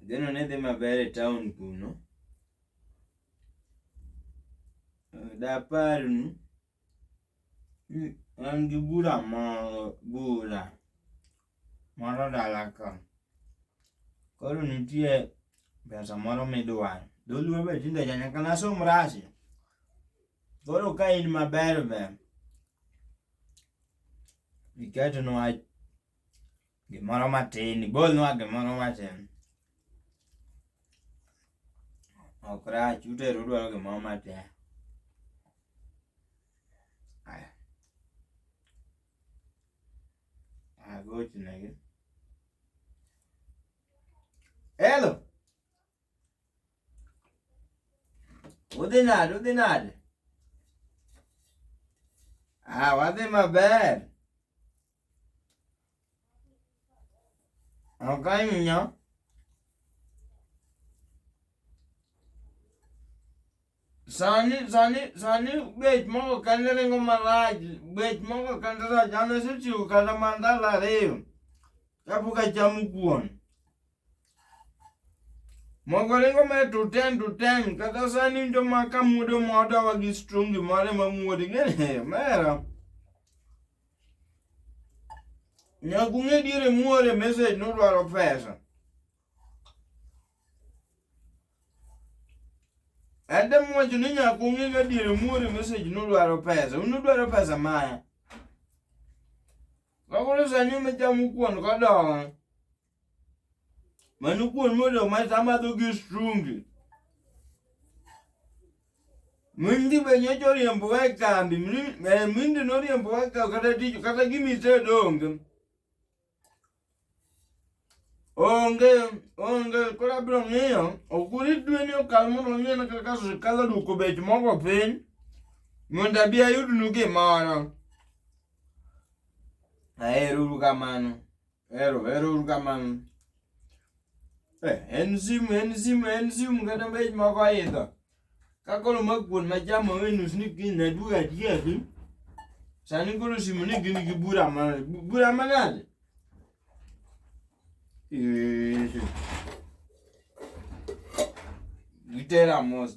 Ageno ni dhi maber e taon kuno. Daparnu ni an gi bura moro, bura moro dala ka. Koro nitie pesa moro midwaro. Dholuo be tinde ocha nyaka ne asom rasi. Koro ka in maber ber iketnwa Gimoro matin, golnwa gimoro matin. Ok rach, uteru udwaro gimoro matin. Aya. Agochnegi. Hello. Udhi nade, udhi nade? Ah, wadhi maber. Oganyo sani sani sani bech moko kende ringo marach bech moko kende rach an asechiwo kata mana ndalo ariyo kapok achamo kuon mogo ringo me to ten to ten kata sani winjo ma kamuodo modawa gi strungi mare mamuode gene mera Nyaka ung'e diere muore message nudwaro pesa. Adam wacho ni nyaka ung'e ga diere muore message nudwaro pesa. Unudwaro pesa maya. Kakoro sani umechamo kuon kodong'. Mano kuon mondo ma samadho gi strungi. Mindi be nyocha oriembowa e kambi, mri- eh, mindi noriembowa e kambi kata tich kata gima itedo onge. Onge, onge, koro abiro ng'iyo, ok urit dwe ni okal mondo ong'e na kaka sirkal oduoko bech mogo piny, mondo abi ayudnu gimoro. Aheruru kamano. Ero, ero uru kamano. Eh, en simu, en simu, en simu kata mbech moko aidho. Ka koro ma kuon ma chamo wenus ni kiny na duogo atieki. Sani koro simu ni gin gi bura ma bura manade? Eh. Gitera mos.